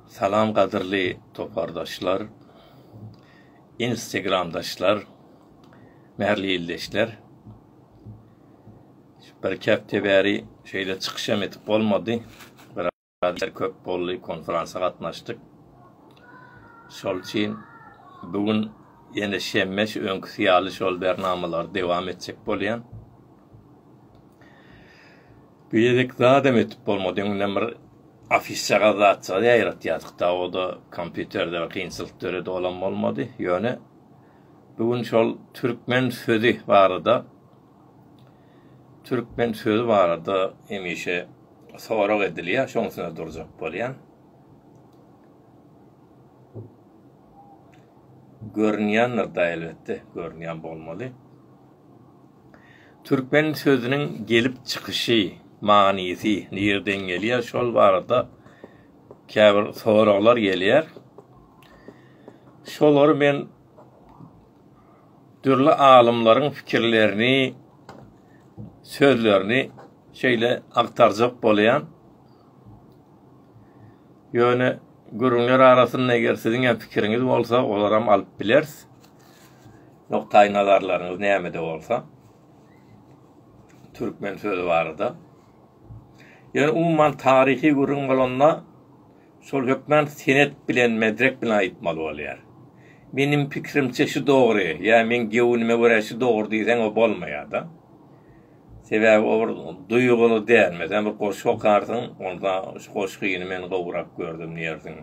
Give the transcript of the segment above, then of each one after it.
Salam gadyrly topardaşlar, instegramdaşlar, mähirli ildeşler. Birki hepde bäri şeýle çykyşam edip bolmady. Biraz işler köp boldy, konferansa gatnaşdyk. Şol üçin bu gün ýene şenbe şu öňküsi ýaly şol bernamalary dowam etjek bolýan. Bir gezek zadam ötüp bolmady. Öňünden bir afişagaz zatjagaz ýaýratýardyk-da, o-da kompýuterde bir kynçylyk döredi, olam bolmady. Ýöne bu gün şol türkmen sözi barada, türkmen sözi barada hemişe sorag edilýär, şoň üstünde durjak bolýan. Görünýändir-dä, elbetde, görünýän bolmaly. Türkmen sözüniň gelip çykyşy, manysy nirden gelýär şol barada käbir soraglar gelýär. Şolary men dürli alymlaryň fikirlerini, sözlerini şeýle agtarjak bolýan. Ýöne gürrüňler arasynda eger siziň hem pikiriňiz bolsa olaram alyp bileris. Nukdaýnazarlaryňyz nämede bolsa, türkmen sözi barada. Ýöne umuman taryhy gürrüň bolanda, şol hökman senet bilen, medrek bilen aýtmaly bolýar. Meniň pikirimçe şu dogry, ýa meň göwnüme görä şu dogry diýseň o bolmaýar-da. Sebäbi o bir duýguly däl. Meselem bir goşgy okarsyň, onda şu goşgyny men gowrak gördüm diýersiň.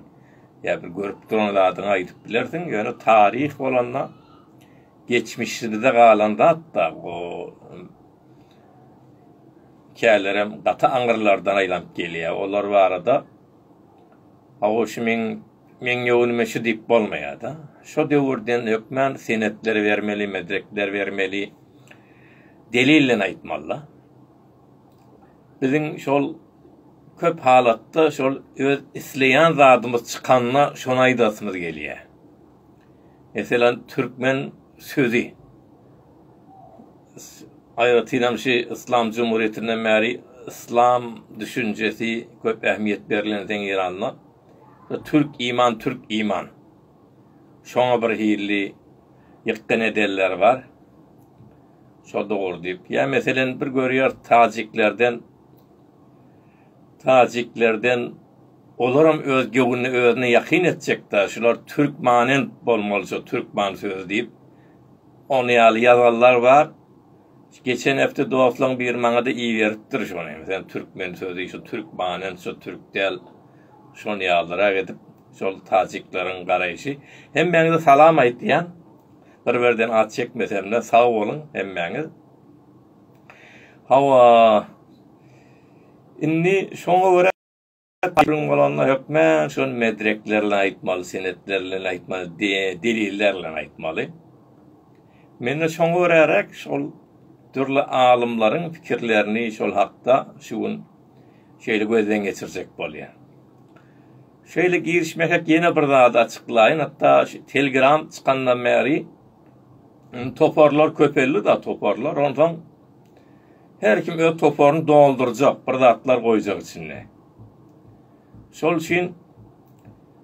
ýa bir görüp duran zadyňy aýdyp bilersiň, ýöne taryh bolanda geçmişimizde galan zat-da o kälerem gaty aňyrlardan aýlanyp gelýär. Olar barada hawa şu meň meň ýöňüme şu diýip bolmaýar-da. Şu döwürden hökmän senetler bermeli, medrekler bermeli, delil bilen aýtmaly-da. Biziň şol köp halatda şol öz isleýän zadymyz çykanda şony aýdasymyz gelýär. Meselem, türkmen sözi. Aýratynam şu Yslam jumhurýetinden bäri yslam düşünjesi köp ähmiýet berlensoň Eýranda türk iman, türk iman. Şoňa birhili ýykgyn edenler bar. Şo dogry diýip. Ýa meselen bir görýäris tajiklerden tajiklerden olaram öz göwnüne özüne ýakyn etjekdä şular türkmanent bolmaly şo türkman sözi diýip ony ýaly ýazanlar bar. Geçen hepde dostlaň biri maňada iberipdir şony. Sen türkmen sözi şu türkmanent şu türk däl. Şony ýalyrak edip şol tajikleriň garaýşy. Hemmäňize salam aýtýan. Bir birden az çekmesemde sag boluň hemmäňiz. Hawa. Indi şoňa görä Gürrüň bolanda hökmän şol medrekler bilen aýtmaly, senetler bilen aýtmaly, deliller bilen aýtmaly. Men-de şoňa göräräk şol dürli alymlaryň pikirlerini şol hakda şu gün şeýle gözden geçirjek bolýan. Şeýle girişmesek ýene bir zady açyklaýyn hatda şu Telegram çykandan bäri indi toparlar köpeldi da toparlar onsoň her kim öz toparyny doldurjak bir zatlar goýjak içinde. Şol üçin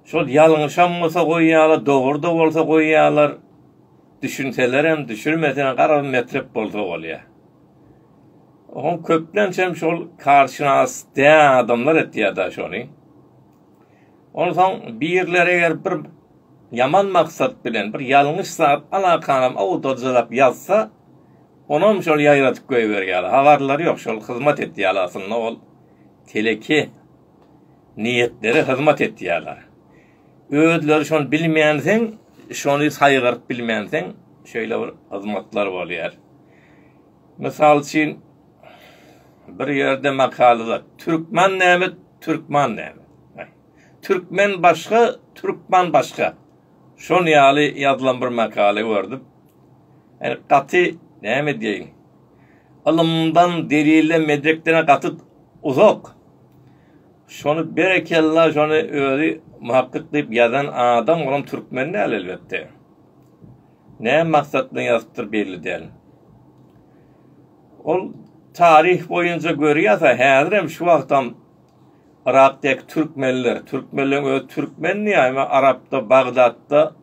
şol ýalňyşam bolsa goýýarlar dogry da bolsa goýýarlar düşünselerem düşürmeseler garabym metrep bolsa bolýar. Oň köplençem şol karşynas däl adamlar etýär-de şony. Onsoň birler eger bir ýaman maksat bilen bir ýalňyş zat alakanam awdajylap ýazsa, onam şol ýaýradyp goýberýärler. Habarlary ýok, şol hyzmat etýärler aslynda ol teleki niýetlere hyzmat etýärler. Özleri şony bilmänseň, şony saýgaryp bilmänseň, şeýle bir hyzmatlar bolýar. Mysal üçin, bir ýerde makalada Türkman näme, Türkman näme? Türkmen başga, Türkman başga. Şon ýaly ýazylan bir makala gördüm. Ýani gaty näme diýeýin, ylymdan, delilden, medrekden gaty uzak. Şony berekella, şony özi muhakkyk diýip ýazan adam olam türkmen däl elbetde. Näme maksatdan ýazypdyr belli däl. Ol taryh boýunça görýärse häzirem şu wagtam Yrakdaky türkmenler, türkmenleriň özi türkmendi ýa-da Arapda, Bagdatda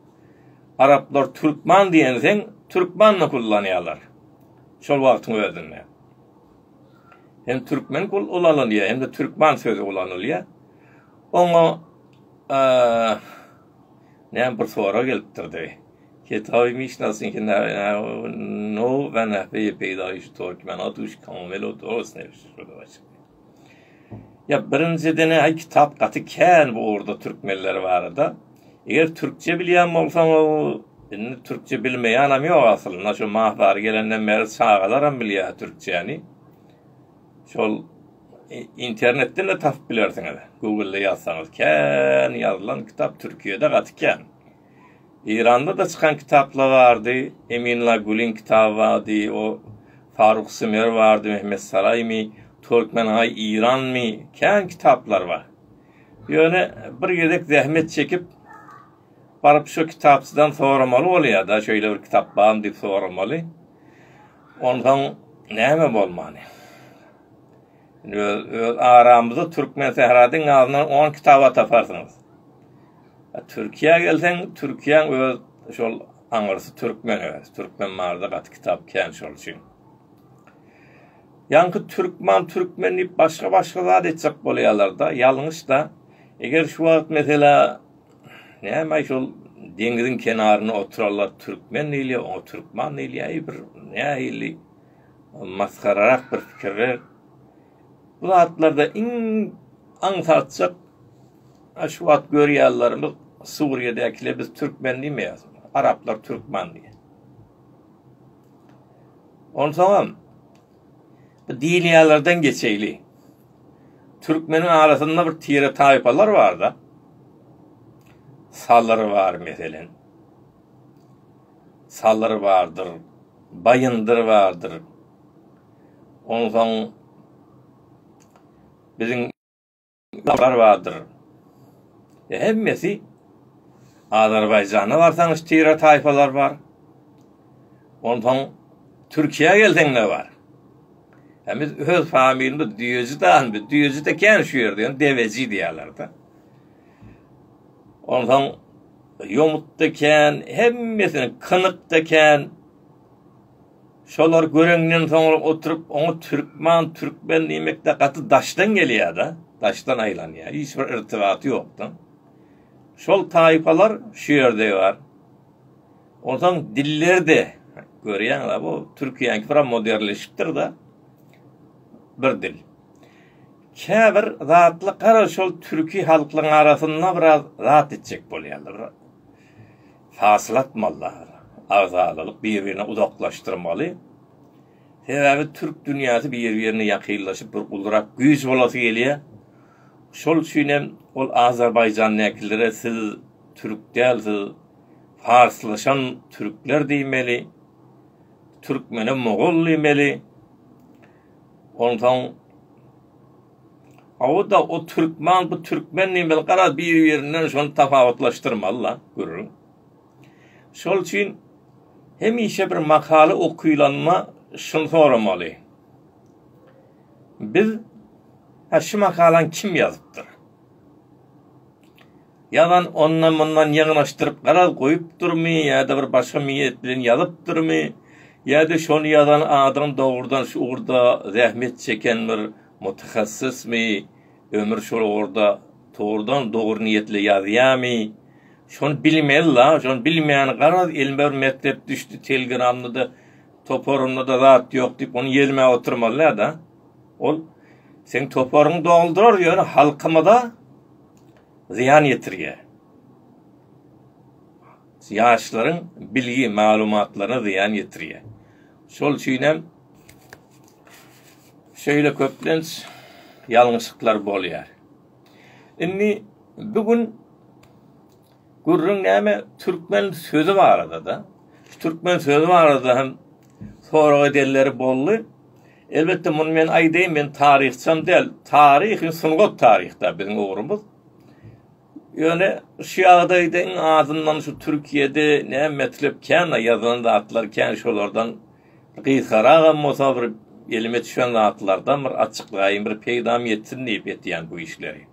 Araplar türkman diýenseň türkman diýip ullanýarlar. Şol wagtyň özünde. Hem türkmen kul ulanylýar hem-de türkman sözi ulanylýar. Oňa Näme bir sorag gelipdirdi. Kitaby Mişnasyň Nowy-Nowy peýdaýyş Türkmena duş komil odosny şuduwaç. Ýa birinjiden aý kitap gaty kän bu ugurda türkmenler barada. Eger türkçe bilýän bolsaň o indi türkçe bilmeýänem ýok aslynda şu Mahbary gelenden bäri çagalaram bilýär türkçäni. Şol internetden-de tapyp bilersiňiz. Google-da ýazsaňyz kän ýazylan kitap Türkiýede gaty kän. Eýranda-da çykan kitaplar bardy. Eminla Gulyň kitaby bardy. O Faruk Sümer bardy, Mehmet Saraýmy, Türkmenaý Eýranmy, kän kitaplar bar. Ýöne bir gezek zähmet çekip baryp şu kitapçydan soramaly bolýar-da, şeýle bir kitap barmy diýip soramaly. Onsoň näme bolmaly? Öz aramyzda Türkmen sähra diňe azyndan on kitaba taparsyňyz. Türkiýä gelseň, Türkiýäň öz şol aňyrsy türkmen öz. Türkmen barada gaty kitap kän şol üçin. Ýaňky türkman, türkmen diýip başga-başga zat etjek bolýarlar-da, ýalňyş-da. Eger şu wagt meselä Näme şol deňiziň kenarynda oturanlar türkmen diýilýär, oňa türkman diýilýär. Bir nähili masgararak bir pikirler. Bu zatlarda iň aňsatjak şu wagt görýärlerimiz Suriýadäkiler biz türkmen diýmeýäris. Araplar türkmen diýýär. Onsoňam Bu diýilýänlerden geçeýli. Türkmeniň arasynda bir tire-taýpalar bar-da. Salyr bar, meselen. Salyr bardyr, Baýyndyr bardyr. Onsoň biziň. Lar bardyr. Hemmesi Azerbaýjana barsaň stira taýpalar bar. Onsoň Türkiýä gelseň ne bar? Hemiz öz familiýamyz düýeji dan biz düýeji de kän şu ýerde ýöne deweji diýerler de. Onsoň ýomut da kän, hemmesini kynyk da kän. Şolary göreňden soňra oturyp oňa türkman, türkmen diýmek-de gaty daşdan gelýär-de, daşdan aýlanýar, hiç bir irtibaty ýokdan. Şol taýpalar şu ýerde bar. Onsoň dilleri-de, görýäňiz-ä, bu türkiýäniňki biraz moderleşipdir-de, bir dil. Käbir zatlar gara şol türki halklaryň arasynda biraz zat etjek bolýarlar. Hasyl atmalylar. Agzalalyk bir-birine uzaklaşdyrmaly. Sebäbi türk dünýäsi bir-birine ýakynlaşyp bir gulrak güýç bolasy gelýär. Şol üçin hem ol Azerbaýjandäkilere siz türk däl siz farslaşan türkler diýmeli. Türkmene mogol diýmeli. Onsoň Aw-da o türkman, bu türkmen diýmeli, garaz, biri-birinden şony tapawutlaşdyrmaly-la, gürrüň. Şol üçin hemişe bir makala okylanda şuny soramaly, Biz, hä, şu makalany kim ýazypdyr? Ýazan ondan-mundan ýygnaşdyryp garaz goýupdyrmy ýa-da bir başga miýet bilen ýazypdyrmy ýa-da şony ýazan adam dogrudan şu ugurda zähmet çeken bir mutahassysmy, ömür şol ugurda togrudan dogry niýetle ýazýamy, şony bilmeli-la, şony bilmän garaz elime bir metlep düşdi, telgramda-da, toparymda-da zat ýok diýip ony ýelmän oturmaly-da. Ol seň toparyňy doldurar ýöne halkymyza. zyýan ýetirýär. Ýaşlaryň bilgi, maglumatlaryna zyýan ýetirýär. Şol üçin hem şeýle köplenç ýalňyşyklar bolýar. Indi bu gün gürrüň näme? Türkmen sözi barada-da. Türkmen sözi barada hem sorag edenleri boldy. Elbetde muny men aýdaýyn, men taryhçam däl. Taryh, sungat taryhda biziň ugrumyz. Ýöne şu ýagdaýda iň azyndan şu Türkiýede ne metlep kän ýazylan zatlar kän şolardan gysgaragam bolsa bir elime düşen zatlardan bir açyklaýyn, bir peýdam ýetsin diýip etýän bu işleri.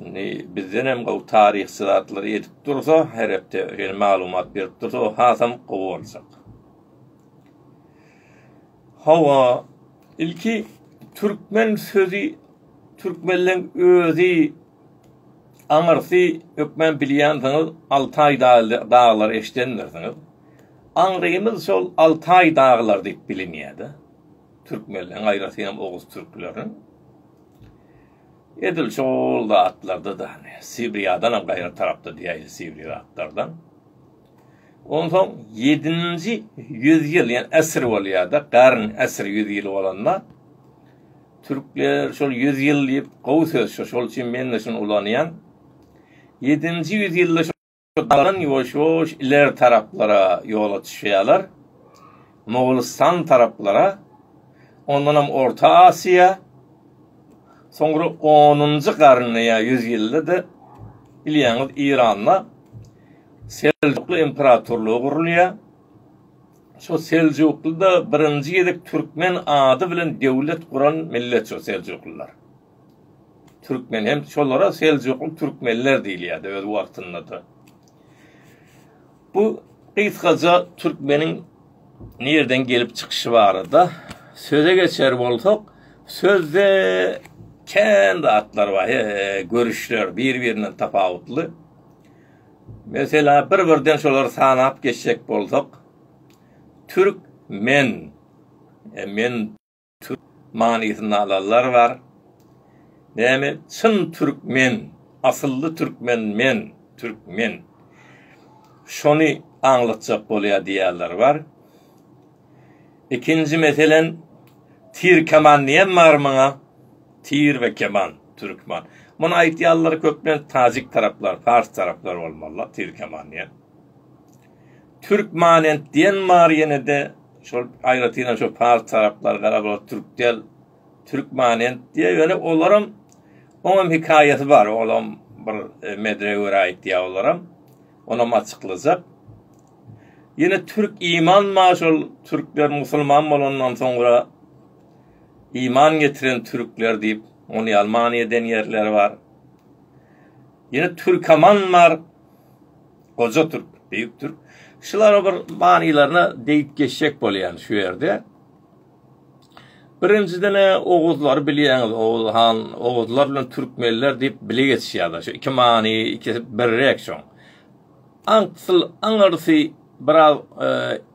Indi bizden hem gowy taryhçy zatlary edip dursa, her hepde şeýle maglumat berip dursa, o hasam gowy boljak. Hawa, ilki türkmen sözi türkmenleň özi aňyrsy hökman bilýänsiňiz Altaý daglary eşidendirsiňiz. Aňrymyz şol Altaý daglar diýip bilinýärdi. Türkmenleň aýratynam oguz türkleriniň. Edil şol zatlarda-da Sibriýadanam gaýry tarapda diýäýdi Sibiri zatlardan. Onsoň ýedinji ýüz ýyl, ýa äsir bolýar-da, garn, äsir ýüz ýyl bolanda, türkler şol ýüz ýyl diýip gowy söz, şol üçin men-de şuny ulanýan. Ýedinji ýüz ýylda şo dalan ýuwaş-ýuwaş ileri taraplara ýola düşýärler, Mogulistan taraplara, ondanam Orta Asiýa, soňra onunjy garynda ýa ýüz ýylda-da bilýäňiz Iranda, Seljukly imperatorlygy gurulýar. Şo Seljukly-da birinji gezek türkmen ady bilen döwlet guran millet şo Seljuklylar. Türkmen hem şolara Seljukly türkmenler diýilýärdi öz wagtynda-da. Bu gysgaça türkmeniň nireden gelip çykyşy barada söze geçer bolsak, sözde kän zatlar bar, görüşler bir-birinden tapawutly. Meselä bir-birden şolary sanap geçjek bolsak, türk men, e, men türk manysynda alanlar bar. Näme, çyn türkmen, asylly türkmen men, türk men. Şony aňlatjak bolýar diýýänler bar. Ikinji meselen tir keman diýen bar muňa tir we keman türkman muny aýtýanlar köplenç tajik taraplar fars taraplar bolmalylar tir keman diýen türk manent diýen bar ýenede şol aýratynam şo fars taraplar gara bol türk del türk manent diýe ýöne olaram oňam hikaýasy bar olam bir e, medre görä aýtýa olaram onam açyklajak Ýene türk iman ma şol türkler musulman bolandan soňra iman getiren türkler diýip ony ýaly many eden ýerleri bar. Ýene türkaman bar. Goja türk, beýik türk. Şulara bir manylaryna degip geçjek bolýan şu ýerde. Birinjiden oguzlary bilýäňiz, oguz han, oguzlar bilen türkmenler diýip bile geçýärler. Şu iki many, iki birrek şoň. Aňsl aňyrsy biraz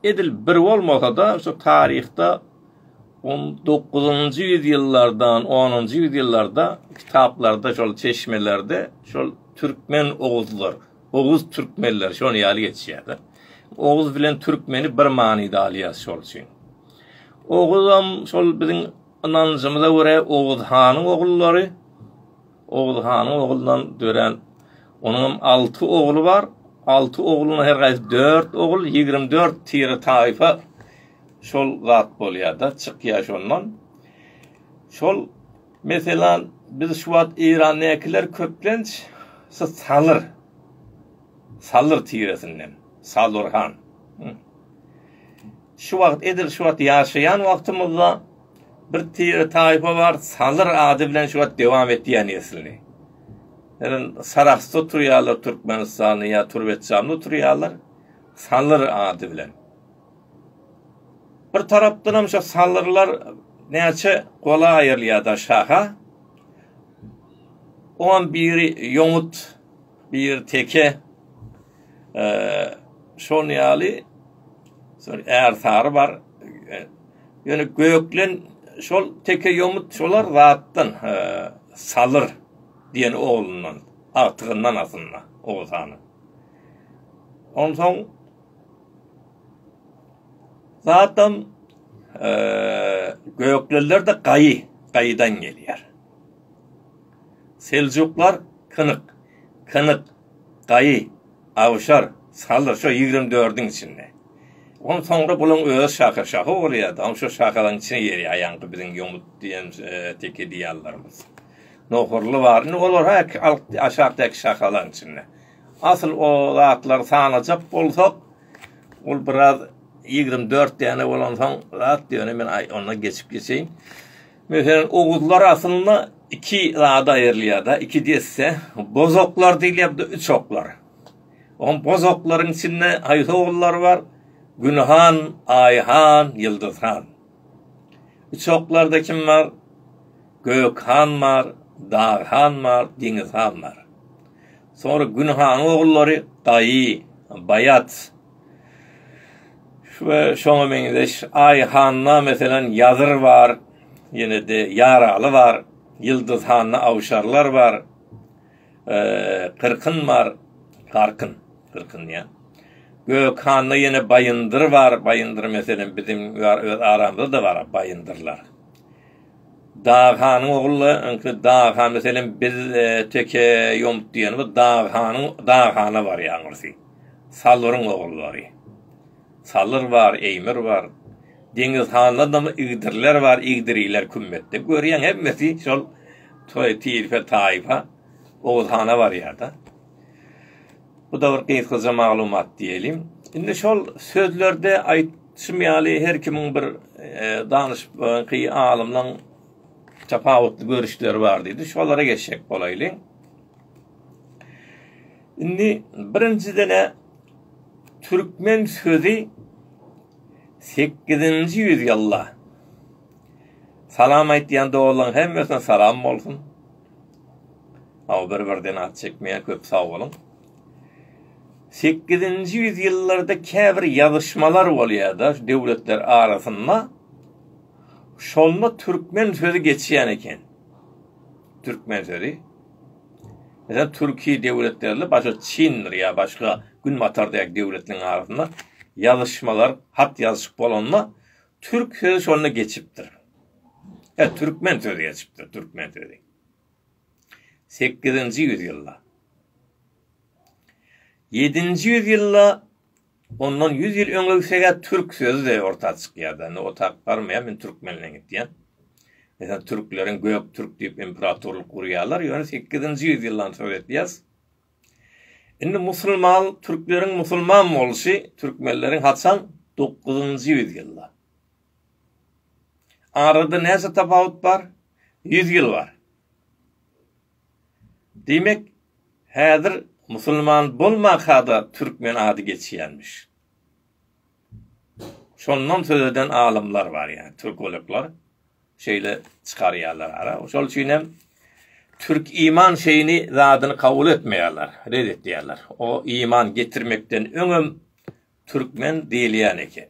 edil bir bolmasa-da, şu taryhda on dokuzynjy ýüzýyllardan, onunjy ýüzýyllarda kitaplarda, şol çeşmelerde şol türkmen oguzlar, oguz türkmenler şol ýaly geçýär-de. Oguz bilen türkmeni bir manyda alýar şol üçin. Oguzam şol biziň ynanjymyza görä Oguz hanyň ogullary. Oguz hanyň oglundan dörän Onuňam alty ogly bar. Alty oglunyň her gaýsy dört ogul, ýigrimi dört tire taýfa şol zat bolýar-da, çykýar şondan. Şol, meselem, biz şu wagt Eýrandakylar köplenç şu Salyr, Salyr tiresinden, Salurhan. Şu wagt, edil şu wagt ýaşaýan wagtymyzda Bir tire taýpa bar, Salyr ady bilen şu wagt dowam etýär neslini. Ýöne Sarahsda oturýarlar Türkmenistanly ýa Türbetjanda oturýarlar, Salyr ady bilen. Bir tarapdanam şu Salyrlar näçe gola aýrylýar-da şaha. Oňam biri ýomut, biri teke. Şol ýaly, soň Ärsary bar. Ýöne Göklen şol teke ýomut şolar zatdan Salyr diýen oglundan, agtygyndan aslynda Oguz hanyň. Onsoň zatam Göklenler-de Gaýy, Gaýydan gelýär. Seljuklar Kynyk, Kynyk Daýy, awşar, saldyr şo ýigrimi dördiň içinde. On soňra bulaň özi şaha, şaha bolýa-da, oň şo şahalaň içine girýä, aýaňky biziň ýomut diýen teke diýýällerimiz. Nohurly bar, indi olar häki alkdy aşakdaky şahalaň içinde. Asyl o zatlary sanajak bolsak, ol biraz ýigrimi dört däne bolansoň zat, ýöne men onda geçip geçeýin. Meselem, oguzlar aslynda iki zada aýrylýar-da, iki desse, bozoklar diýilýär, bir de üçoklar. Oňa bozoklaryň içinde haýsy ogullar bar? Gün han, Aý han, Ýyldyz han. Üçoklarda kim bar? Gök han bar, Dag han bar, Deňiz han bar. Soňra Gün hanyň ogullary Gaýy, Baýat. we şoňa meňzeş Aý handa meselem Ýazyr bar, ýene-de Ýaraly bar, Ýyldyz handa Awşarlar bar, Kyrkyn bar, Garkyn, Gyrkyn diýýän. Gök handa ýene Baýyndyr bar, Baýyndyr meselem biziň öz aramyzda-da bar Baýyndyrlar. Dag hanyň ogully ňky Dag han meselem biz teke ýomut diýen bu Dag hanyň Dag hana barýan gursi. Salwyryň ogullary. Salyr bar, Eýmir bar. Deňiz handan da Igdirler bar, Igdiriler kümmetde. Görýäň hemmesi şol toý tirfe taýfa Oguz hana barýar-da. Bu-da bir gysgaja maglumat diýeýin. Indi şol sözlerde aýtşym ýaly her kimiň bir danyşypky alymlaň tapawutly görüşleri bar diýdi. Şolara geçjek bolaýlyň. Indi birinjiden-ä türkmen sözi 8-nji ýüz ýylda Salam aýtýan doganlaň hemmesine salam bolsun. Aw bir birden at çekmeýär köp sag boluň. Sekizinji ýüz ýyllarda käbir ýazyşmalar bolýada döwletler arasynda. Şonda türkmen sözi geçýän eken. Türkmen sözi. Mesela Türkiye döwletlerle başga Çindir ýa başga Günbatar dek döwletleriň arasynda ýazyşmalar, hat ýazyşyk bolanda Türk sözi şonda geçipdir. E, türkmen sözi geçipdir, türkmen sözi. 8-nji ýüzýylda. 7-nji ýüzýylda ondan 100 ýyl öňe gitse türk sözi de orta çykýar. Indi o tak barmaýar, men türkmenle gitýän. Mesela türkleriň gök türk diýip imperatorlyk gurýarlar. Ýöne 8-nji ýüzýyldan söz etýäs. Indi musulman türkleriň musulman bolşy türkmenleriň haçan dokuzynjy ýüz ýylda. Arada näçe tapawut bar? Ýüz ýyl bar. Diýmek, häzir musulman bolmanka-da türkmen ady geçýänmiş. Şondan söz eden alymlar bar, ýa türkologlar şeýle çykarýarlar ara. Şol üçin hem türk iman şeýni zadyny kabul etmeýärler, red etýärler. O iman getirmekden öňem türkmen diýilýän eken.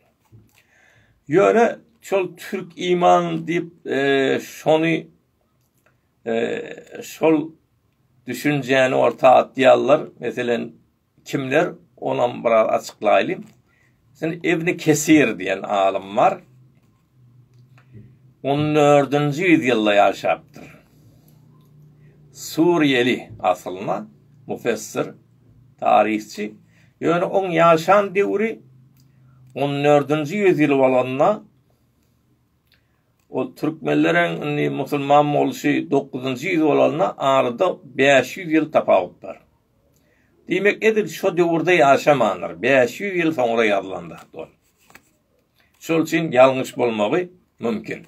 Ýöne şol türk iman diýip e, şony e, şol düşünjäni orta atýarlar. Meselen, Kimler? Onam biraz açyklaýly. Sen Ibni Kesir diýen alym bar. On dördünji ýüzýylda ýaşapdyr. Suriýeli asylly mufessir, taryhçy. Ýöne oň ýaşan döwri on dördünji ýüzýyl bolanda ol türkmenlereň indi musulman bolşy dokuzynjy ýüz bolanda arada bäş ýüz ýyl tapawut bar. Diýmek, edil şo döwürde ýaşamandyr, bäş ýüz ýyl soňra ýazylan zat bol. Şol üçin ýalňyş bolmagy mümkin.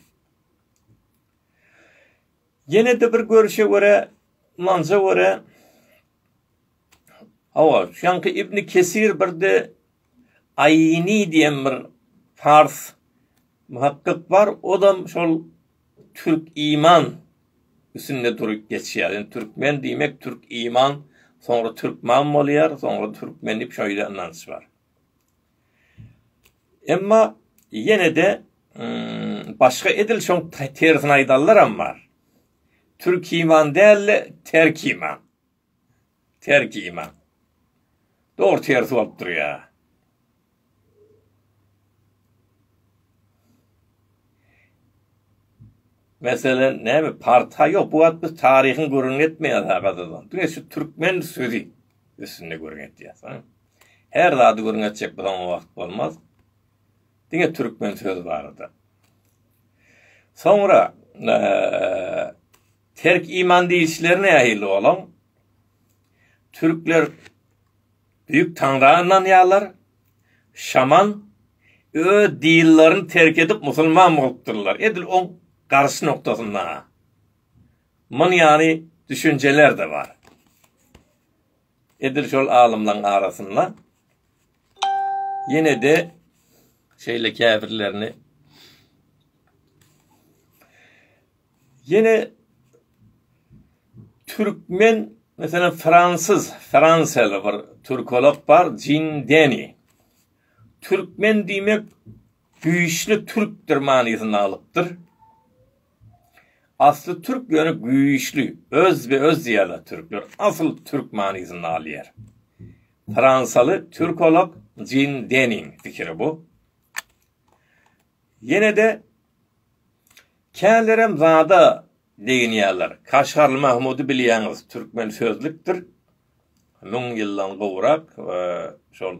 Ýene-de bir görüşe görä, Manza görä, hawa, şaňky Ibni Kesir birde Aýni diýen bir pars muhakkyk bar, ozam şol türk iman üstünde durup geçýär. Indi türkmen diýmek türk iman, soňra türkman bolýar, soňra türkmen diýip şeýle ynanç bar. Emma ýene-de başga edil şoň tersini aýdanlaram bar. Türk iman däl-de terk iman. Terjime. Dogry tersi bolup durýa. Meselen näme parta ýok bu wagt biz taryhyň gürrüňini etmeýäs ha gazetde. Diňe şu türkmen sözi üstünde gürrüň etýäs. Her zady gürrüň etjek bolsaň o wagt bolmaz. Diňe türkmen sözi barada. Soňra eee Terk iman diýişleri nähili olaň? Türkler büyük taňra ynanýarlar. Şaman öz dinlerini terk edip musulman bolupdyrlar. Edil oň garyş noktasynda. Mun yani düşünceler de bar. Edil şol alymlaň arasynda yine de şeyle kafirlerini Ýene türkmen, meselem, fransuz, fransiýaly bir türkolog bar, Jin Deni. Türkmen diýmek güýçli türkdir manysyny alypdyr. Asly türk, ýöne güýçli, öz we öz diýýärler türkler. Asyl türk manysyny alýar. Fransiýaly türkolog Jin Deniň pikiri bu. Ýene-de Kälerem zada begenýärler. Kaşgarly Mahmudy bilýäňiz, türkmen sözlükdir. Müň ýyldan gowrak şol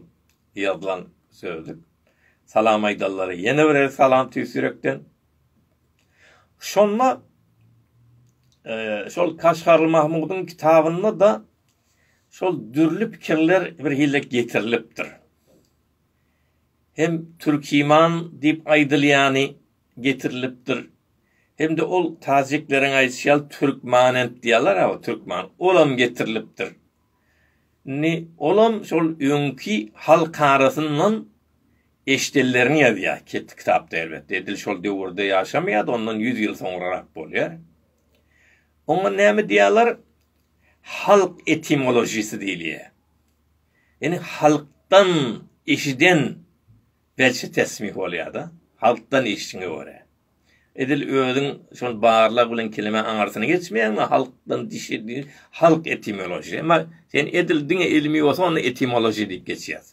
ýazylan sözlük. Salam aýdanlara ýene bir gezek salam tüýs ýürekden. Şonda şol Kaşgarly Mahmudyň kitabynda-da şol dürli pikirler birhili getirilipdir. hem Türkiman diýip aýdylýany getirilipdir, hem-de ol tajikleriň aýdyşy ýaly Türkmanent diýýärler aba, Türkman, olam getirilipdir. Indi olam şol öňki halk arasyndan eşidenlerini ýazýar, ket kitapda elbetde, edil şol döwürde ýaşamaýar-da, ondan ýüz ýyl soňrarak bolýar. Oňa näme diýýärler? Halk etimolojisy diýilýär. Ýani halkdan eşiden belçe tesmih bolýada. Halkdan eşdiňe görä. Edil özüň şol barlag bilen keleme aňyrsyny geçmeýäňmi halkdan dişedi halk etimology. Emma sen edil diňe ilmi bolsa onda etimology diýip geçýär.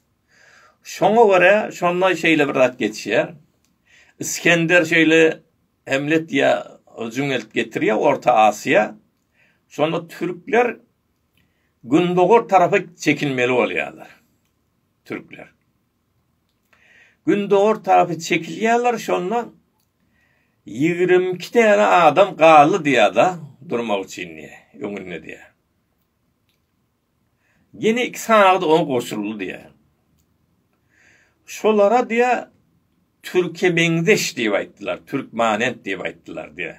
Şoňa görä şonda şeýle bir zat geçýär. Iskender şeýle Hemlet diýä jüňeltip getirýär Orta Asyýa. Şonda türkler Gündogar tarapa çekilmeli bolýarlar türkler. Gündogar tarapa çekilýärler şonda ýigrimi iki täne adam galdy diýýär-de durmak üçin diýýär, öňünde diýýär. Ýene iki sany oňa goşuldy diýýär. Şolara diýýär Türke meňzeş diýip aýtdylar, türkmanent diýip aýtdylar diýýär.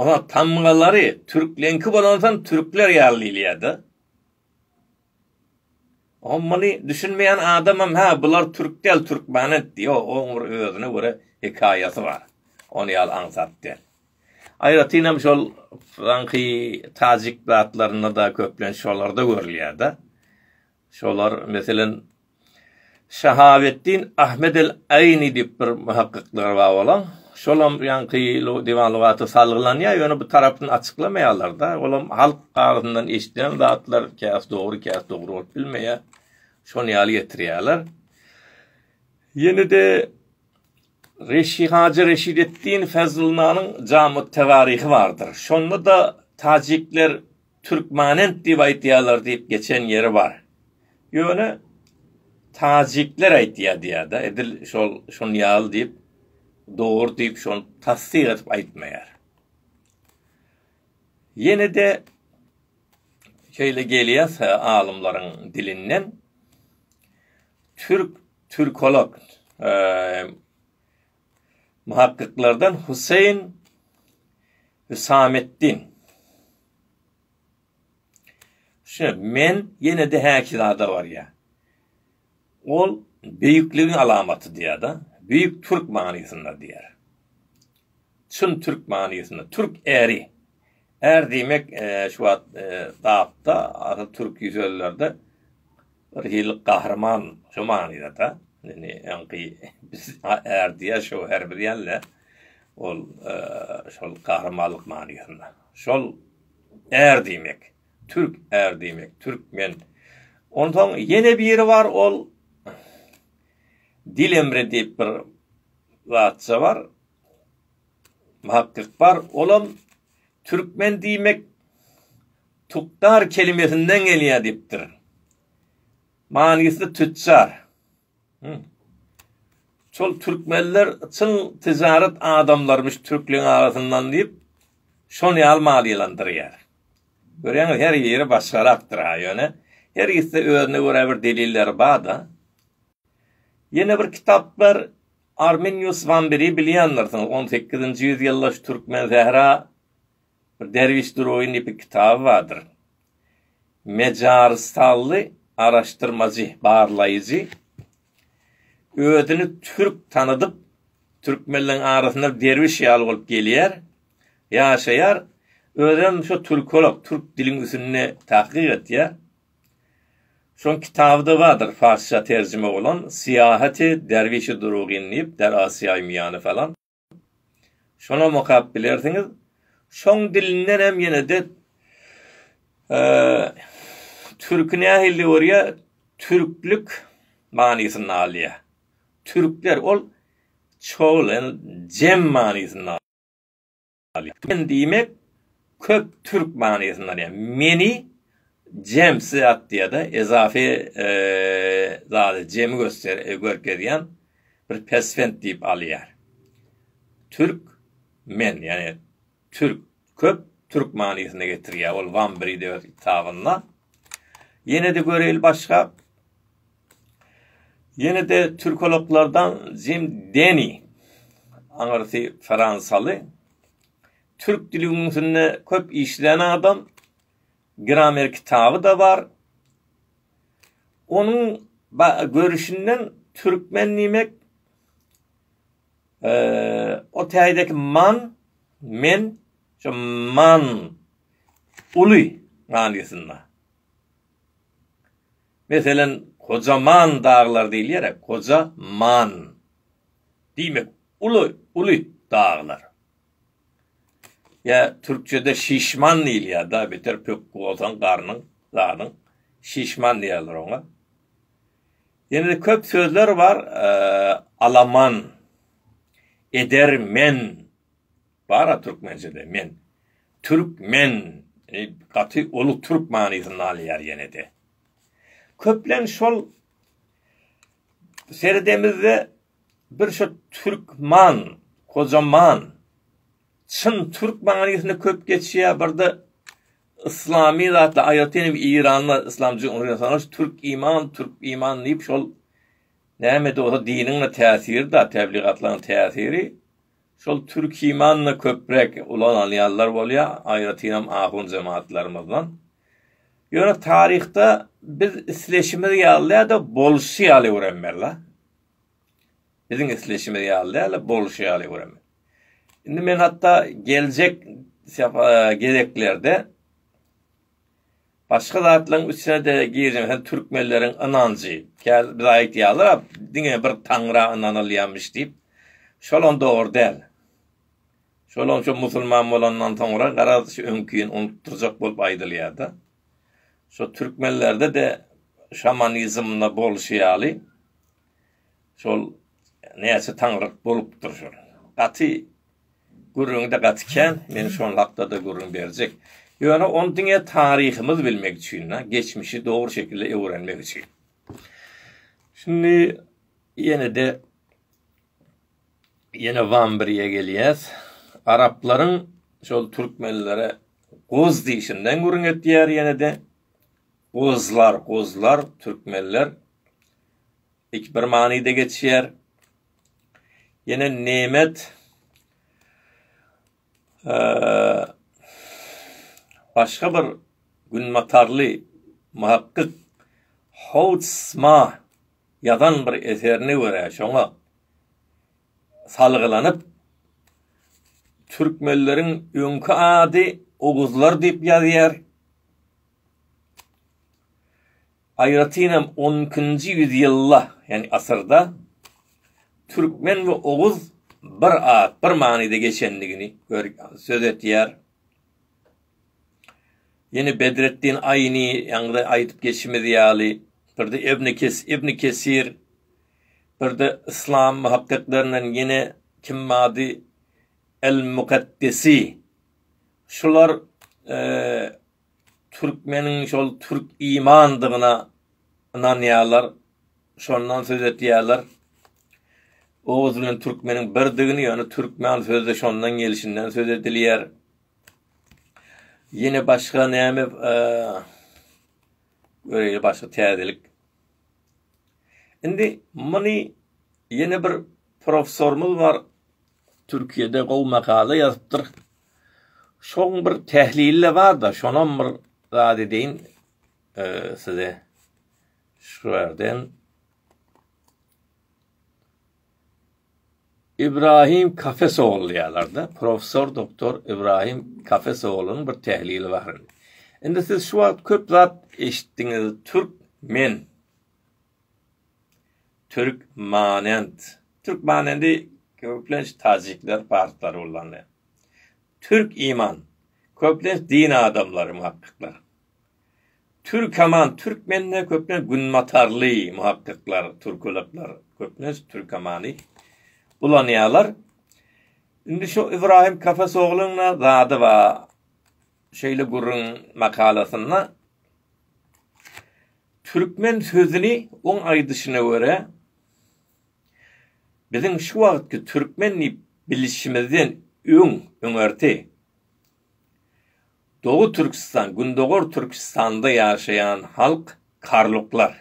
Onuň tamgalary türkleňki bolansoň türkler ýaly diýilýär-de. Oňa muny düşünmeýän adamam hä bular türk däl türkmen etdi. Ýok oň bir özüne görä hekaýasy bar. Ony ýaly aňsat däl. Aýratynam şol soňky tajik zatlarynda-da köplenç şolarda görülýär-de. Şolar, meselem, Şahabetdin Ahmed el-Aýni diýip bir muhakkyklar bar bolan. Şolam ýaňky Diwan lugaty salgylanýar, ýöne bu tarapyny açyklamaýarlar-da. Olam halk agzyndan eşiden zatlar, käsi dogry, käsi dogry bolup bilmeýär. Şony ýaly getirýärler. Ýene-de Reşi Hajy Reşideddin Fezlnanyň Jamy-ü-Tewaryhy bardyr. Şonda-da tajikler Türkmanent diýip aýtýarlar diýip geçen ýeri bar. Ýöne Tajikler aýtýar diýýär-de, edil şol şon ýaly diýip, dogry diýip şony tassyk edip aýtmaýar. Ýene-de şeýle gelýär alymlaryň dilinden, Türk, türkolog, Muhakkyklardan Huseýin Hüsametdin. Şe, men ýene-de häki zada barýar. Ol beýikligiň alamaty diýýär-de, beýik türk manysynda diýýär. Çyn türk manysynda, türk äri. Är diýmek şu wagt dapda asyl türki sözlerde bir hili gahryman şu manydada. Indi öňki biz är diýer şöwher bilýänler ol şol gahrymanlyk manysynda. Şol är diýmek. Türk är diýmek. Türkmen. Onsoň ýene biri bar ol dil emri diýip bir zatça bar. Muhakkyk bar, olam türkmen diýmek tukdar kelimesinden gelýär diýipdir. Manysy tütjar. Hum. Şol türkmenler çyn tijaret adamlarymyş türkleriň arasyndan diýip, şon ýaly maliýelendirýär. Görýäňiz, her ýeri başgarakdyr-ha, ýöne her ikisi özüne görä bir delilleri bar-da. Ýene bir kitap bar, Arminius Wamberi bilýändirsiňiz, on sekizinji ýüzýyldaş türkmen sähra bir derwiş durugy nepi kitaby bardyr. Mejarystanly araşdyrmajy, barlaýjy özüni türk tanadyp, türkmenleriň arasynda derwiş ýaly bolup gelýär, ýaşaýar, özem şo türkolog, türk diliň üsünde tahkyk etýär. Şol kitabyda bardyr farsça terjime bolan Syýahaty derwişi durugyn diýip der Asyýaýy miýany falan. Şonam okap bilersiňiz. Şoň dilinden hem ýene-de Türki nähilli görýär? Türklik manysyny alýar. Türkler ol çogul, jem manysyny alýar. Ýaly. Men diýmek, köp türk manysyny alýar. Meni jemsi atýada ezafy zady jemi göster görkezýän bir pesvent diýip alýar. Türk men ýani türk köp türk manysyny getirýär ol Wambride öz kitabynda. Ýene-de göreýli başga. Ýene-de türkologlardan Jim Deni, aňyrsy fransaly, türk dili ünsünde köp işlän adam, gramer kitaby-da bar. Onuň görüşinden türkmen diýmek o täydeki man, men, şu man, uly manysynda. Meselem, Kojaman daglar diýilýär-ä, koja man. Diýmek, uly, uly daglar. Ýa türkçede şişman diýilýär-dä, beter pökgi bolsaň garnyň, zadyň, şişman diýerler oňa. Ýene-de köp sözler bar, alaman, edermen. Bara türkmençede men türk men e, gaty uly türk manysyny alýar ýene-de. Köplenç şol seredemizde bir şu türkman, kocaman, çyn türk manysyny köp geçýär, birde islami zatla aýratyn hem Iranda islam jumhuriyetiniň türk iman, türk iman diýip şol näme de bolsa diniň täsiri de, tebligatlaryň täsiri Şol Türkimanyny köpräk ulanalýanlar bolýar, aýratynam ahun jematlarymyzdan. Ýöne taryhda biz isleşimiz ýaly däl-de, bolşy ýaly öwrenmeli-la. Biziň isleşimiz ýaly däl-de, bolşy ýaly öwrenmeli. Indi men hatda geljek gezeklerde Başga zatlaryň üstüne-de girseň, hä türkmenleriň ynanjy. Käbir bir aýdýarlar-a, diňe bir Taňra ynanylýarmyş diýip. Şolam dogry däl. Şolam şu musulman bolandan soňra, garaz, şu öňkini unutdyrjak bolup aýdylýar-da. Şu türkmenlerde-de şamanizmde bolşy ýaly, şol näçe taňryk bolupdyr şol. Gaty Gürrüňi-de gaty kän, men şol hakda-da gürrüň berjek. Ýöne ony diňe taryhymyzy bilmek üçin, geçmişi dogry şekilde öwrenmek üçin. Şindi ýene-de ýene Wambiriýe gelýäs. Araplaryň şol türkmenlere goz diýişinden gürrüň etýär ýene-de. Gozlar, gozlar, türkmenler. Iki bir manyda geçýär. Ýene nemet başga bir günbatarly muhakkyk Houtsma ýazan bir eserine görä, şoňa salgylanyp, türkmenleriň öňki ady oguzlar diýip ýazýar. Aýratyn hem on ikinji ýüzýylda, ýagny asyrda, türkmen we oguz bir at, bir manyda geçendigini söz edýär. Ýene Bedretdin Aýni, ýaňyda aýdyp geçimiz ýaly, bir-de Ibn Kesir, bir-de yslam muhakkiklerinden ýene kim bardy, El-Mukaddesi, şular, Türkmeniň şol türk imandygyna ynanýarlar, şondan söz etýärler. Oguz bilen türkmeniň birdigini, ýöne türkmen sözi şondan gelişinden söz edilýär. Ýene başga näme e, göreýli başga täzelik. Indi muny ýene bir professorymyz bar. Türkiýede gowy makala ýazypdyr. Şoň bir tählili bar-da, şonam bir zat edeýin size. Şu ýerden Ibrahim Kafesoğlu diýýärler-de, professor doktor Ibrahim Kafesoğlunyň bir tählili bar. Indi siz şu wagt köp zat eşitdiňiz, türk men Türkmanent. Türkmanendi köplenç tajikler, parslary ullanýar. Türk-iman. Köplenç din adamlary, muhakkyklar. Türkaman. Türkmende köplenç günbatarly, muhakkyklar, türkologlar köplenç türkamany ulanýarlar. Indi şu Ybraýym Kafesoglyň-da zady bar. Şeýle gürrüň makalasynda. Türkmen sözüni oň aýdyşyna görä, biziň şu wagtky türkmen diýip bilişimizden öň, öňerti, Doly Türküstan, Gündogar Türküstanda ýaşaýan halk karluklar.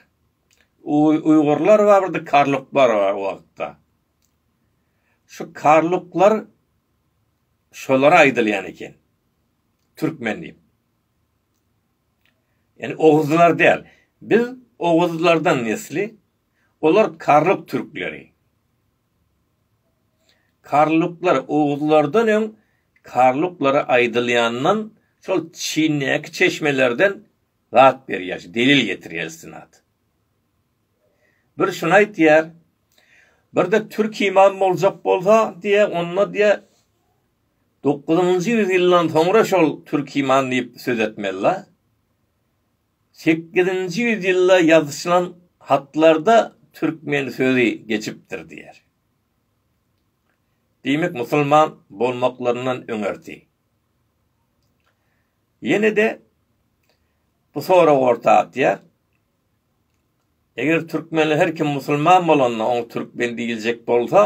Uýgurlar bar, bir de karluklar bar o wagtda. Şu karluklar şolara aýdylýan eken, türkmen diýip. Ýani oguzlar däl. Biz oguzlardan nesli, olar karluk türkleri. Karluklar oguzlardan öň karluklara aýdylýandan şol Çindäki çeşmelerden zat berýär, delil getirýär istinad. Bir şuny aýtýar, birde türk imam boljak bolsa diýýär, onda diýýär Dokuzynjy ýüz ýyldan soňra şol Türkiman diýip söz etmezler. Sekizinji ýüz ýylda ýazyşylan hatlarda Türkmen sözi geçipdir diýer. Diýmek musulman bolmaklaryndan öňerti. Ýene-de bu sorag orta atýar, Eger türkmene her kim musulman bolanda oňa türkmen diýiljek bolsa,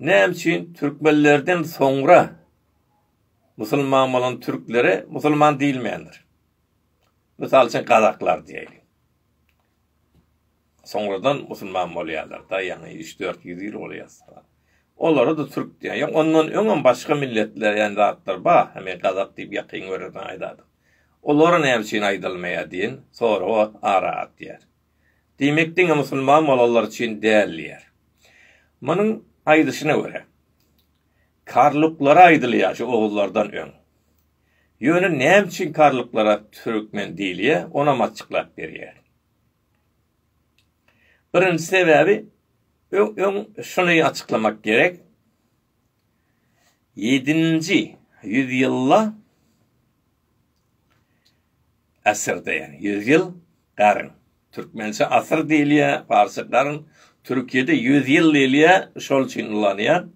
näme üçin türkmenlerden soňra musulman bolan türklere musulman diýilmändir? Mysal üçin gazaklar diýeýin. Soňradan musulman bolýarlar-da, ýagny üç, dört ýüz ýyl bolýar. Olara-da türk diýýär. Ýok, ondan öňem başga milletler, ýagny zatlar bar. Men gazak diýip ýakyn görenden aýdadym. Olara näme üçin aýdylmaýar diýen soragy ara atýar. Diýmek diňe musulman bolanlar üçin däl diýýär. Munuň aýdyşyna görä, karluklara aýdylýar şu oguzlardan öň. Ýöne näme üçin karluklara türkmen diýilýär, onam açyklap berýär. Birinji sebäbi öň şuny açyklamak gerek, Ýedinji ýüzýylda asyrda ýagny ýüz ýyl garyn. Türkmençe asyr diýilýär, parsça garyn, türkiýede ýüz ýyl diýilýär, şol üçin ulanýar.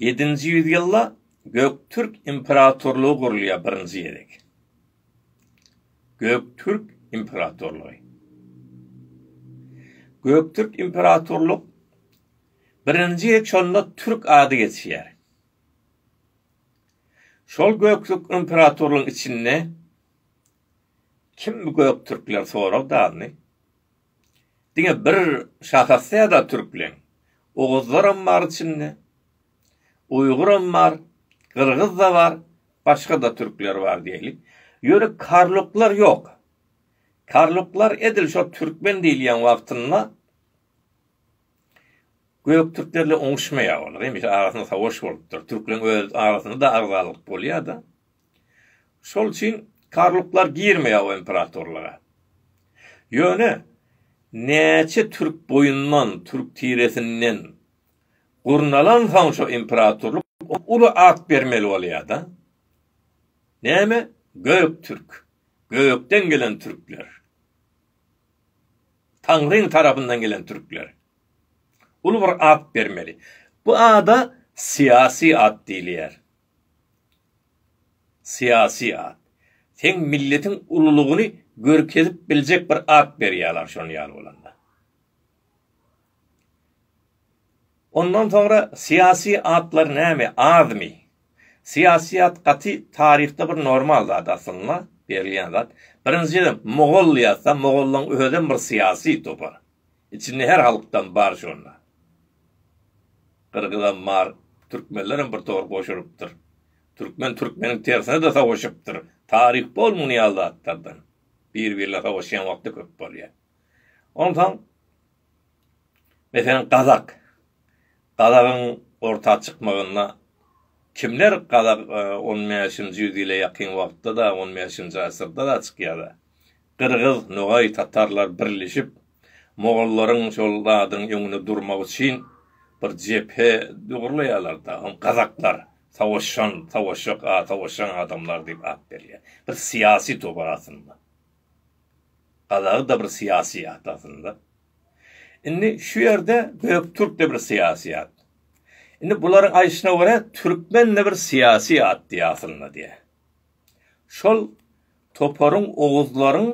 Ýedinji ýüzýylda Göktürk imperatorlygy gurulýar birinji gezek. Göktürk imperatorlygy. Göktürk imperatorlyk birinji gezek şonda türk ady geçýär. Şol Göktürk imperatorlygyň içinde kim bu Göktürkler sorag dalny? Diňe bir şahasýada türkleň. Oguzlaram bar içinde. Uýguram bar. Gyrgyz-da bar. Başga-da türkler bar diýeli. Ýöne karluklar ýok. Karluklar edil şo türkmen diýilýän wagtynda göktürklerle oňuşmaýar olar. Hemişe arasynda sawaş bolupdyr. Türkleň öz arasynda-da agzalyk bolýar-da. Şol üçin karluklar girmeýär o imperatorlyga. Ýöne näçe türk boýundan, türk tiresinden gurnalansoň şo imperatorlyk oňa uly at bermeli bolýar-da. Näme? Göktürk. Gökden gelen türkler. Taňryň tarapyndan gelen türkler. Uly bir at bermeli. Bu ada syýasy at diýilýär. Syýasy at. Seň milletiň ululygyny görkezip biljek bir at berýärler şon ýaly bolanda. Ondan soňra syýasy atlar näme azmy? Syýasy at gaty taryhda bir normal zat aslynda berilýän zat. Birinjiden mogol ýazsa mogollaň özem bir syýasy topar. Içinde her halkdan bar şonda. Gyrgyzam bar, türkmenlerem bir tor goşulypdyr. Türkmen türkmeniň tersine-de savaşypdyr. Taryh bol muny ýaly zatlardan. Bir-birine savaşýan wagty köp bolýar. Onsoň, meselem, gazak. Gazagyň orta çykmagynda kimler gazak on bäşinji ýüz ýyla ýakyn wagtda-da, on bäşinji asyrda-da çykýar-da. Gyrgyz, nogaý, tatarlar birleşip, mogollaryň şol zadyň öňünde durmak üçin bir jephe dogurlaýarlar-da, oňa gazaklar, savaşan, savaşjak, savaşan adamlar diýip at berýär. Bir syýasy topar aslynda. Gazagy-da bir syýasy at aslynda. Indi şu ýerde Göktürk-de bir syýasy at. Indi bularyň aýdyşyna görä, türkmen-de bir syýasy at diýýär aslynda diýýär. Şol Toparyň oguzlaryň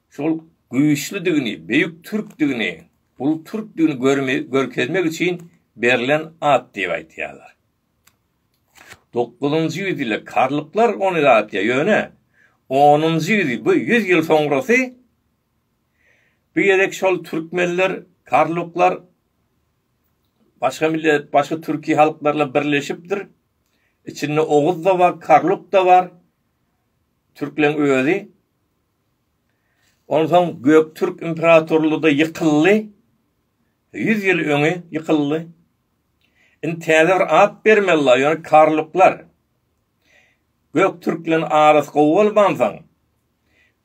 şol güýçlüdigini, beýik türkdigini, uly türkdigini görkezmek üçin berlen at diýip aýdýarlar. Dokuzynjy ýüzýylda karluklar ony ýatýar, ýöne onunjy ýüz, bu ýüz ýyl soňrasy bu gezek şol türkmenler, karluklar başga millet, başga türki halklarla birleşipdir. Içinde oguz-da bar, karluk-da bar. Türkleň özi. Onsoň Göktürk imperatorlugy-da ýykyldy. Ýüz ýyl öňi ýykyldy. Indi täze bir at bermelidir, ýöne karluklar. Göktürk bilen arasy gowy bolmansoň,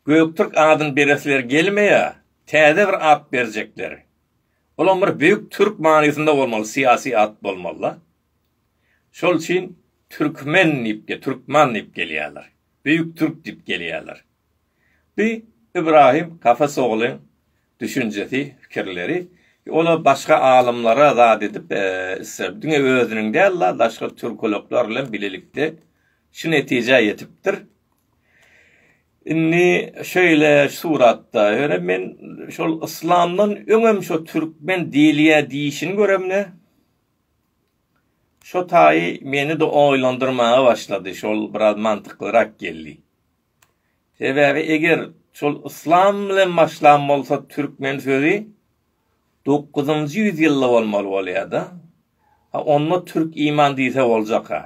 Göktürk adyny beresileri gelmeýär, täze bir at berjekler. Olam bir Beýik Türk manysynda bolmaly, syýasy at bolmaly-da. Şol üçin türkmen diýip de türkman diýip gelýärler. Büýük türk diýip gelýärler. Bi Ibrahim Kafes oglyň düşünjesi, pikirleri. Ola başga alymlara zat edip isler. Diňe özüniň däl la daşky türkologlar bilen bilelikde şu netijä ýetipdir. Indi şeýle suratda ýöne men şol yslamdan öňem şo türkmen diýilýä diýişini göremde. Şo taýy meni-de oýlandyrmaga başlady, şol biraz mantyklyrak geldi. Sebäbi eger şol yslam bilen başlan bolsa türkmen sözi dokuzynjy ýüz ýylda bolmaly bolýada. Ha onda türk iman diýse boljaka.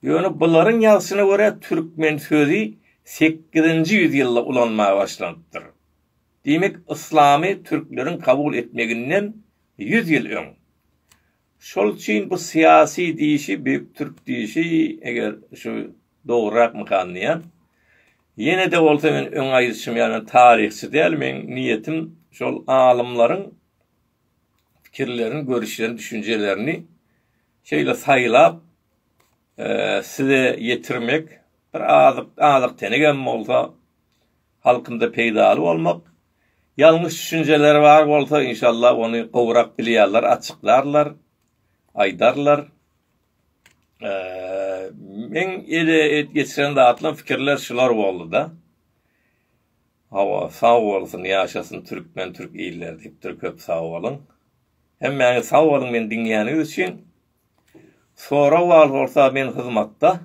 Ýöne bularyň ýazşyna görä türkmen sözi sekizinji ýüz ýylda ulanmaga başlanypdyr. Diýmek, yslamy türkleriň kabul etmeginden ýüz ýyl öň. Şol üçin bu syýasy diýşi, beýik türk diýşi, eger şu dogrurakmykan diýýän. Ýene-de bolsa men öň aýdyşym ýaly men taryhçy däl, meniň niýetim şol alymlaryň pikirlerini, görüşlerini, düşünjelerini şeýle saýlap size ýetirmek, bir azyk, azyk-tenegem bolsa halkynda peýdaly bolmak, ýalňyş düşünjeleri bar bolsa inşallah ony gowrak bilýärler açyklarlar, aýdarlar. Meň ele geçiren zatlam fikirler şular boldyda. Hawa sag bolsun ýaşasyn türkmen türk iller diýipdir köp sag boluň. Hemmäňiz sag boluň meni diňleýäniňiz üçin. Sorag bar bolsa men hyzmatda.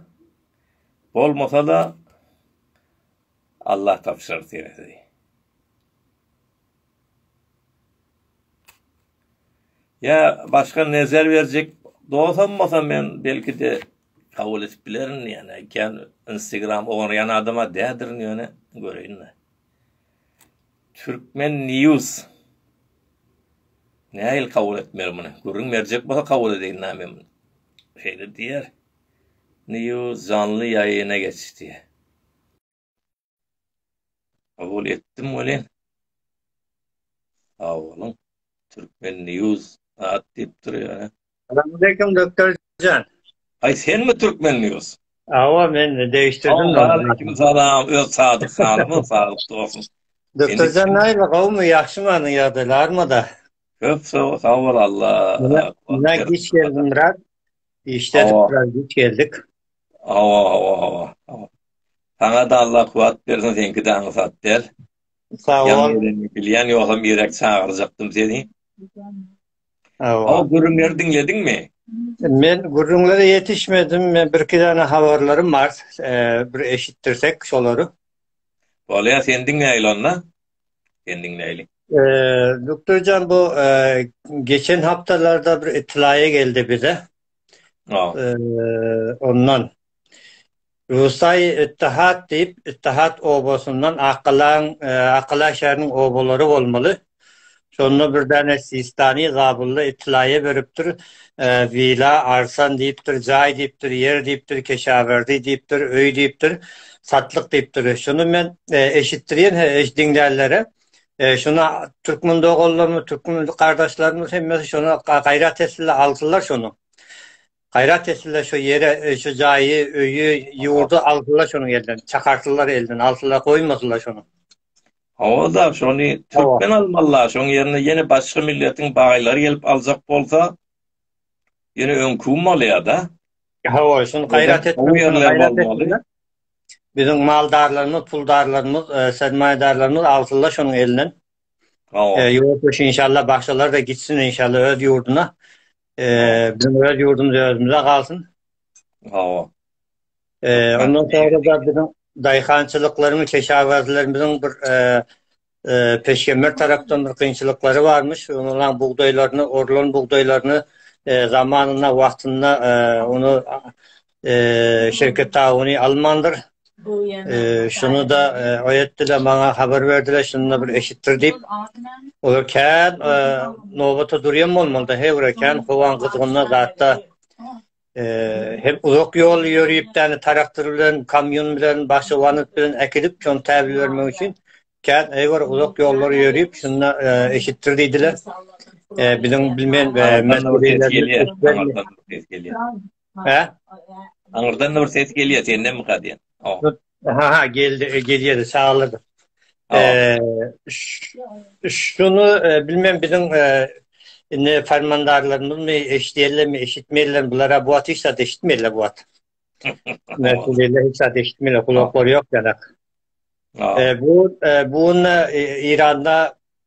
Bolmasa-da Allah tabşyrar serhedi. Ýa başga nezer berjek dosam bolsa men belki-de kabul edip bilerin ýa-da ikän Instagram oňarýan adama dädirin ýöne göreýin-de. Türkmen news. Nähili kabul etmeli muny? Gürrüň berjek bolsa kabul edeýin näme men. Şeýle diýer. News janly ýaýyna geçdi. Kabul etdim welin. Sag boluň. Türkmen News at diýipdir ýöne. Salamaleýkum doktorjan. Aý senmi Türkmen News? Awa men degişdirdim. Aleýkum salam öz Sadyk hanymy saglyk dogsyn. Doktorjan näme gowmy ýagşymy anyň ýagdaýlarmyda? Köp sag bol Allah. Näme giç geldim biraz. Işde biraz giç geldik. Awa awa awa awa. Saňa da Allah kuwat bersin seňki de aňsat däl. Sag bol. Bilýän ýogsam irek çagyrjakdym seni. Awa. O gürrüňleri diňlediňmi? Men gürrüňlere ýetişmedim. Men bir iki dana habarlarym bar. Eee bir eşitdirsek şolary. Bolýa sen diňläýli onda. Sen diňläýli. Eee Doktorjan bu eee geçen haptalarda bir itlaýa geldi bize. Ondan Rusaý Ittihat diýip, Ittihat obasyndan Akalaň, Akala şäheriniň obalary bolmaly. Şonda bir däne Sistani zabylla itlaýa beripdir. Wila Arsan diýipdir, jaý diýipdir, ýer diýipdir, keşawerdi diýipdir, öý diýipdir, satlyk diýipdir. Şuny men eşitdirýän, he, eş diňlänlere. E, şuna türkmen doganlarymyz, türkmen gardaşlarymyz hemmesi şuna gaýrat etsinler, alsynlar şony. Gaýrat etsinler şu ýere, e, şu jaýy, öýi, ýurdy alsynlar şonuň elinden. Çakarsynlar elinden, alsynlar, goýmasynlar şony. Hawa-da, şony türkmen almalylar. Şoň ýerine ýene başga milletiň baýlary gelip aljak bolsa, ýene öňkümi bolýar-da. Hawa, şuny gaýrat etmeli. Biziň maldarlarymyz, puldarlarymyz, sermaýedarlarymyz alsynlar şonuň elinden. Ýurtdaş inşallah bagşalar da gitsin inşallah öz ýurduna. Bizim öz ýurdumyz özümüze galsyn. Hawa. Ondan sonra da biziň daýhançylyklaryň, keşawerzilerimiziň bir Peşgemer tarapdan bir kynçylyklary barmyş, olaryň bugdaýlaryny, orlan bugdaýlaryny zamanynda, wagtynda ony Şewket Tawuny almandyr. Şuny-da oýetdiler, maňa habar berdiler, şuny-da bir eşitdir diýip. Olar kän nobata durýan bolmaly-da, he, bir kän howaň gyzgynlygy zatda. Hem uzak ýol ýörüp, täne taraktyr bilen, kamýun bilen, başga wanyt bilen äkidip, şony täbil bermek üçin kän eýwar uzak ýollar ýörüp, şunda eşitdir diýdiler. Biziň bilmeýän Aňyrdan bir ses gelýär. Sendemika diýen. Ha ha geldi e, gelýär çagalar. Eee şunu e, bilmem biziň e, indi fermandarlarymyzmy eşitýärlermi eşitmeýärler bulara bu wagt hiç zat eşitmeýärler bu wagt. Näseleler hiç zat eşitmeýärler gulaklary ýok ýanak. E, bu e, bu e, Iranda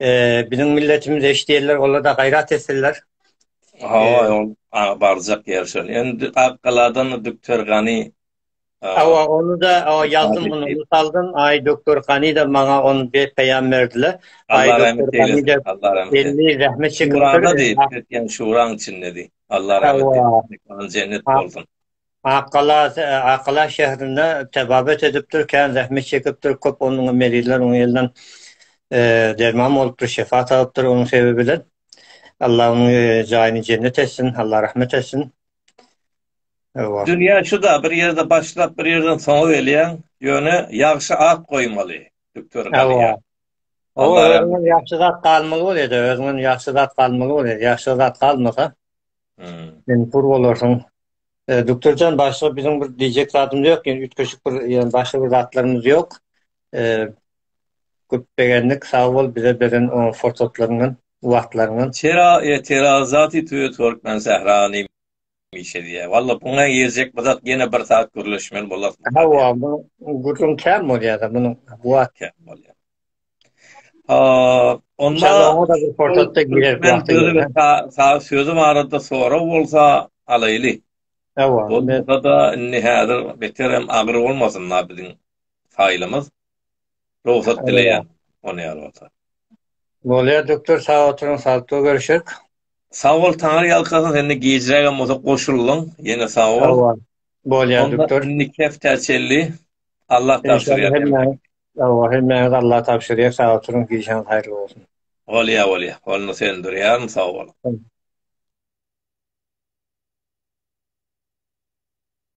Eee biziň milletimiz eş diýerler olarda gaýrat etsinler. Hawa, e, ol barjak ýer şol. Endi Akgaladan Doktor Gani Awa, ony da awa ýazdym bunu saldım. Aý doktor Gani da maňa ony be peýam berdiler. Aý doktor Gani de Allah rahmet eylesin. Elli rahmet çekip. Şurada diýip, etgen şuraň içinde diýip. Allah rahmet eylesin. Jennet bolsun. Akgala Akgala şäherinde tebabat edipdir, kän zähmet çekipdir, köp onuň merizler onuň elinden derman bolupdyr, şefa tapypdyr onuň sebebi bilen. Allah onuň jaýyny jennet etsin, Allah rahmet etsin. Dünýä şu-da bir ýerde başlap, bir ýerden soňa gelýäň, ýöne ýagşy at goýmaly. Düktor Galiýa. Ýagşy zat galmaly bolýar-da, özüňden ýagşy zat galmaly bolýar, ýagşy zat galmasa. Sen kur bolarsyň. E, Doktorjan başga biziň bir diýjek zadymyz ýok, ýöne üýtgeşik bir ýöne başga bir zatlarymyz ýok. E, köp begendik, sag bol bize beren o forsatlaryňdan, wagtlaryňdan. Tera e tera zati tüe Türkmen sährany mişe diýä. Walla buňa ýerjek bir zat ýene bir saat gürleşmeli bolarsyň. Hawa, bu gürrüň kän bolýar-da, munuň bu wagt kän bolýar. sözi barada sorag bolsa alaýly. Bolmasa-da, indi häzir beterem agyr bolmasyn da biziň faýlymyz. Rugsat dileýän, ony ýaly bolsa. Bolýar Doktor, sag oturyň, sagykly görüşerik. Sag bol, Taňry ýalkasyn, sen-de gijrägem bolsa goşuldyň, ýene sag bol. Bolýar Doktor. Onda indiki hepdä çenli Allah tabşyrýan. Hawa hemmäňiz Allaha tabşyrýar sag oturyň gişaňyz haýyrly bolsun. Bolýa bolýa ony söndürýärin sag boluň.